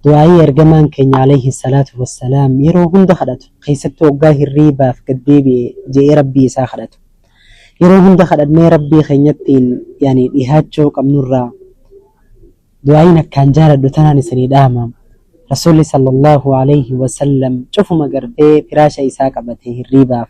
Du'aa'ii Ergamaan keenya Aleyhi salaatu wassalaam yeroo hunda kadhatu, keessattuu hoggaa hirriibaaf gad deebi'e je'ee Rabbii isaa kadhatu. Yeroo hunda kadhannee Rabbii keenyattiin yani dhihaachuu qabnurraa du'aa'iin akkaan jaaladhu tanaan isinii dhaama. Rasuulli sallallaahu aleyhi wasallam cufuma gartee firaasha isaa qabate hirriibaaf.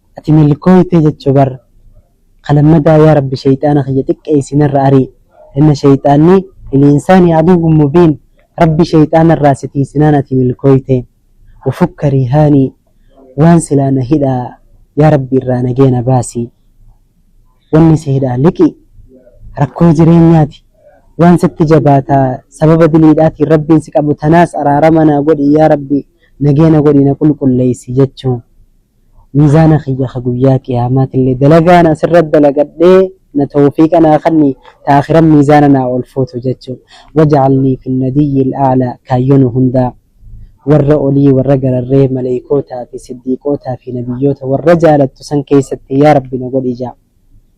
Ati milkooyte jechu bar ka lammadaa yaa rabbi sheyxaana kiyya xiqqeeysi narra arii inna sheyxaanni lil'insaani aduwwun mubiin rabbi sheyxaana irraa si tiiysinaan ati milkooyte ufukka riihaani waan silaa na hidha yaa rabbi irraa nagee na baasi wanni si hidhaa liqii rakkoo jireenyaati waan sitti jabaata sababa diliidhaatiin rabbiin si qabu tanaas araarama naa godhi yaa rabbi nagee na godhi na qulqulleeysi jechu miizaana kiyya ka guyyaa qiyaamaatille dalagaan asirratti dalagadhee na towfiiqa naa kanni ta aakhiran miizaana naa olfuutu jechu waj'alnii fi nadiyyil a'laa kaayyo nu hundaa warra olii warra gararree maleeykootaa fi siddiiqootaa fi nabiyyoota warra jaalattu san keeysatti yaa rabbi na godhi ja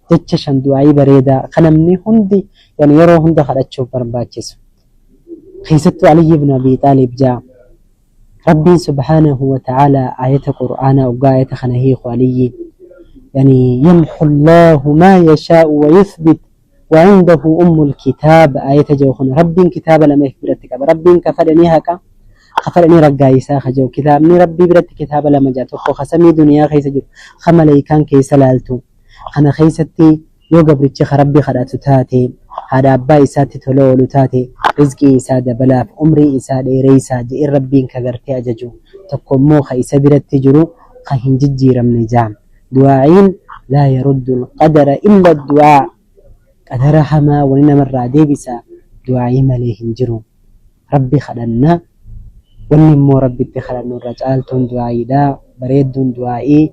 jecha 5 du'aa'ii bareedaa ka namni hundi yani yeroo hunda kadhachuuf barbaachisu keeysattuu aliyyi ibnu abii xaaliib ja. Rabbiin subhaanahu wa ta'aalaa aayata qur'aanaa oggaa aayata kana hiiku Aliyyi yani yamhu Allaahu maa yashaa'u wa yuthbit wa cindahu ummul kitaab aayata je'u kana Rabbiin kitaaba lama if biratti qaba Rabbiin ka fedhe ni haqa ka fedhe ni raggaayisa ka je'u kitaabni Rabbii biratti kitaaba lama jira tokko ka samii duniyaa keessa jiru ka maleykaan keessa laaltu kana keessatti Yoo gabrichi ka Rabbi kadhatu taate, haadha abbaa isaatti tola oolu taate, rizqii isaa dabalaaf, umrii isaa dheereysaa je'e Rabbiin ka gartee ajaju, tokko immoo ka isa biratti jiru ka hin jijjiiramne je'an. Du'aa'iin Laa yaruddu al-qadara illa ad-du'aa Qadara hamaa wani nama irraa deebisa du'aa'ii malee hin jiru. Rabbi kadhanna, wanni immoo Rabbitti kadhannu irra caaltuun du'aa'iidha, bareedduun du'aa'ii.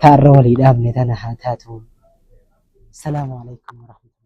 Ta arra walii dhaabne tana haa taatu. Salamu aleykum warahmatullahi.